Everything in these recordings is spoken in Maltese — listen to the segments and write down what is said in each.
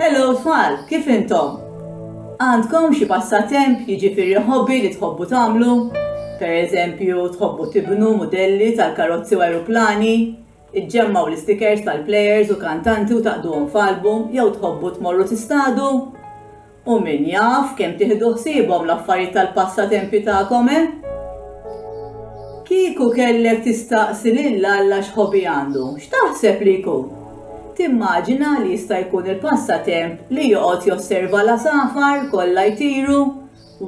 Hello tfal, kif intom? Għandkom xi passatemp jiġifieri hobby li tħobbu tagħmlu? Per eżempju, tħobbu tibnu modelli tal-karozzi u aeroplani, iġġemmaw l-istikers tal-plejers u kantanti u taqduhom f'album jew tħobbu tmorru tistadu? U min jaf kemm tieħdu ħsiebhom l-affarijiet tal-passatempi tagħkom, eh? Kieku kellek tistaqsi lil Alla x'ħobi għandu, x'taħseb li jkun? Timmaġina li jista' jkun il-passatemp li joqgħod josserva l-għasafar kollha jtiru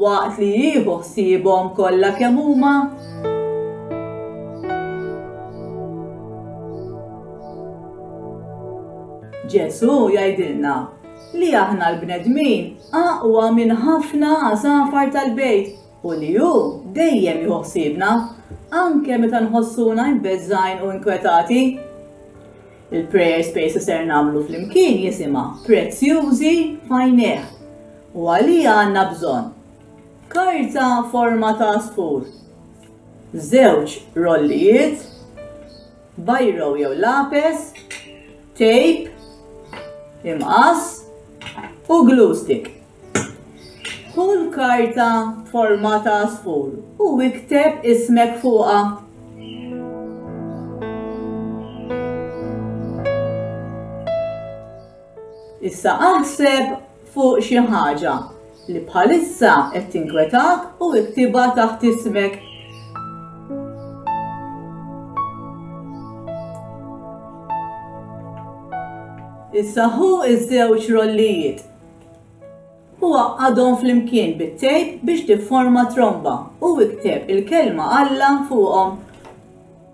waqt li jieħu ħsiebhom kollha kemm huma? Ġesù jgħidilna li aħna l-bnedmin aqwa minn ħafna għasafar tal-bejt u li hu dejjem jieħu ħsiebna, anke meta nħossuna imbeżżgħin u inkwetati. Il-prayer space li ser nagħmlu flimkien jisimha Prezzjużi f'għajnejh u għalija għandna bżonn karta forma ta' spur, żewġ rollijiet, bajro jew lapes, tape, imqass u glue stick. Kull karta forma ta' sfur u ikteb ismek fuqa. Issa aħseb fuq xi ħaġa li bħalissa qed tinkwetak u iktibha taħt ismek. Issa hu iż-żewġ rollijiet u għaqqadhom flimkien bit-tejp biex tifforma tromba u ikteb il-kelma Alla fuqhom.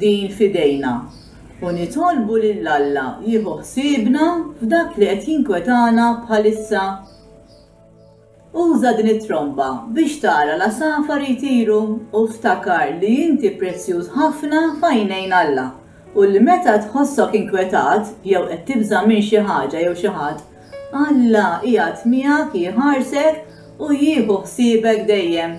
din f'idejna u nitolbu lil Alla jieħu ħsiebna f'dak li qed jinkwetana bħalissa. Uża din it-tromba biex tara l-għasafar jtiru u ftakar li inti prezzjuż ħafna f'għajnejn Alla u li meta tħossok inkwetat jew qed tibża' minn xi ħaġa jew xi ħadd, Alla qiegħed miegħek jħarsek u jieħu ħsiebek dejjem.